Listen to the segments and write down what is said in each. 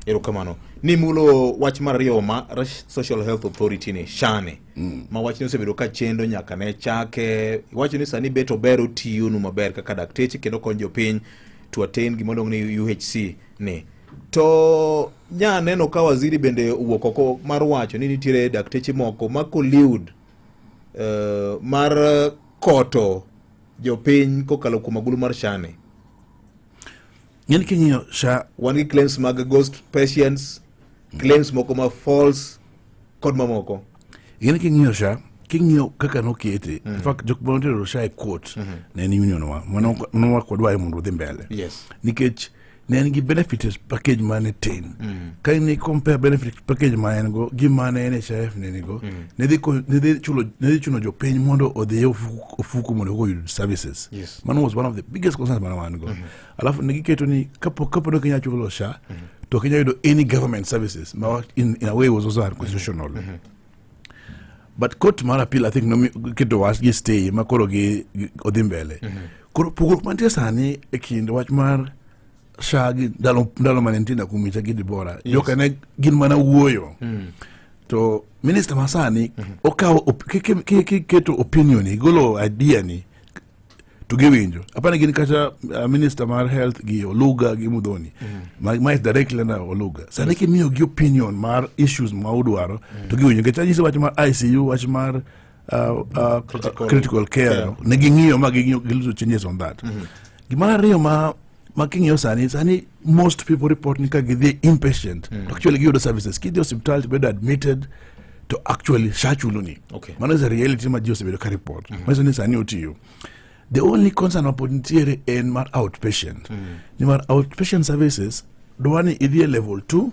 Erokamano. Ni mulo wach mar ariyo ma Social Health Authority ni shane. Mm. Ma wachni osebedo ka chendo nyaka ne chake. Iwacho ni sani beto bero tiyo nu maber kaka dakteche kendo konyo jopiny to attain gima luongo ni UHC ni. To nya neno ka waziri bende owuok oko mar wacho ni nitiere dakteche moko ma collude uh, mar koto jopiny kokalo kuom agulu mar shane. ng'en king'iyo sha wan gi claims mag ghost patients claims moko ma false kod mamoko ng'en king'iyo sha king'iyo kaka nokete mm. in fact jok ma notero sha e court mm -hmm. ne en union wa manowa kodwa e mondo odhi mbele yes. nikech ne en gi benefits package mane tin mm. ka ni compare benefit package ma en go gi mane NHIF ne nigo mm. ne dhi ne dhi chulo ne dhi chuno jopiny mondo odhi ofuku mondo oyud services yes. man was one of the biggest concerns mane wan go mm -hmm. alafu nikiketo ni kapo kapo no kenya chulo sha mm -hmm. to kenya yudo any government services ma in, in a way was also unconstitutional mm -hmm. but court mar appeal i think no keto was gi stay ma koro gi odhi mbele mm -hmm. koro pogruok mantie sani e kind wach mar sha gi ndalo ndalo mane nitie na kumicha gi dibora yes. joka ne gin mana wuoyo mm -hmm. to minister masani mm -hmm. okawo kiketo opinion igolo idea ni to giwinjo apani gin kata uh, minister mar health gi oluga gi mudhoni mm. ma is directly na oluga sani kimiyo gi opinion mar issues ma udwaro mm. to giwinjo nikech anyise wach mar icu wach mar uh, uh, critical, critical care yeah. ne ging'iyo ma ging'iyo gilito changes on that mm -hmm. gimar ariyo ma ma king'iyo sani sani most people report ni ka gidhi inpatient mm. actually giyudo services kidhi osiptal tibedo admitted to actually shachuluni okay. mano is a reality ma ji osebedo ka report mm -hmm. manyiso ni sani otiyo the only concern mapod nitiere en mar outpatient mm. nimar outpatient services dwani idhi e level two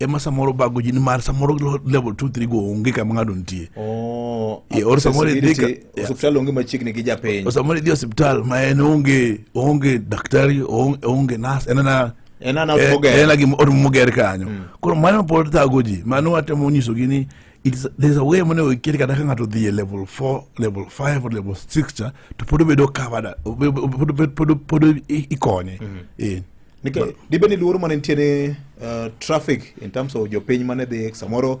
ema samoro bago ji nimar samoro level 2 3 go onge kama ng'ado nitie oh, yeah, or samoro idhi ka hospital onge machiegni gi japiny or samoro idhi hospital ma en onge onge daktari onge nas en na en na eh, en gi or moger kanyo mm. koro mano pod thago ji mano atemo nyiso gi ni it's, there's a way monego iket kata ka ng'ato dhi e level 4 level 5 or level 6 cha to pod obedo covered pod pod pod ikonye mm -hmm. eh Nikech dibed ni luoro mane nitiere uh, traffic in terms of jopiny mane dhi samoro